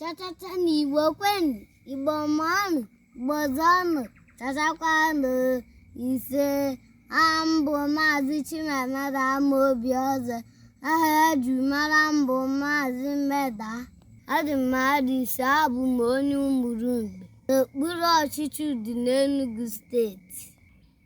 chachacha ndị igbo kwenụ igbo mụọnụ igbo zụọnụ chachakwanụ ise aha m bụ maazị chimamada ama obi ọzọ aha e ji mara m bụ maazị mmeda adị mmadụ ise abụ m onye Umulumgbe n'okpuru ọchịchị Udi n'Enugu steeti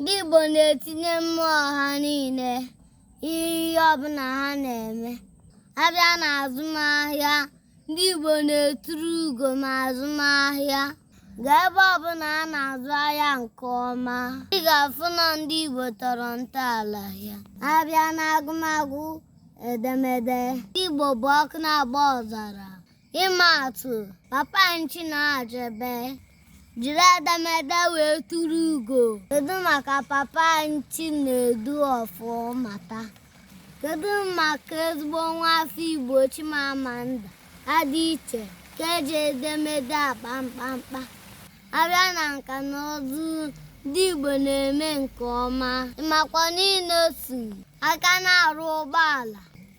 ndị Igbo na-etinye mmụọ ha niile n'ihe ọbụla ha na-eme a bịa na azụmahịa ndị Igbo na-eturu ugo na azụmahịa gaa ebe ọbụla a na-azụ ahịa nke ọma ị ga-afụ na ndị Igbo tọrọ ntọala ya a bịa na agụmagụ edemede ndị Igbo bụ ọkụ na-agba ọzara ịma atụ papa Chinua Achebe jiri edemede wee turu ugo kedu maka papa Chinedu Ọfọmata kedu maka ezigbo nwa afọ igbo chimamanda Adichie nke ji edemede akpa mkpamkpa a bịa na nka na ụzụ ndị igbo na-eme nke ọma ị makwa na Innoson aka na-arụ ụgbọala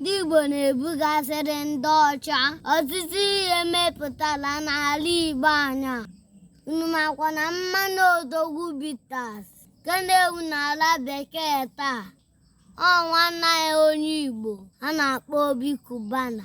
ndị Igbo na-ebugasịrị ndị ọcha ọtụtụ ihe e mepụtara n'ala Igbo anyị a unu makwa na mmanya Odogwu Bitters nke na-ewu n'ala bekee taa ọ nwanne anyị onye Igbo a na-akpọ Obi Kubana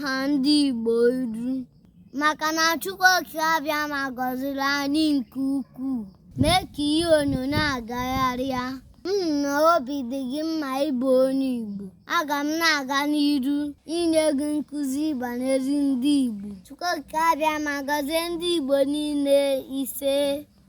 ha ndị Igbo iru maka na Chukwu Okike Abịama gọziri anyị nke ukwuu mee ka ihe onyonyo a gagharịa m hụ na obi dị gị mma ịbụ onye Igbo aga m na-aga n'iru inye gị nkụzi banyere ndị Igbo Chukwu Okike Abịama gọzie ndị Igbo niile ise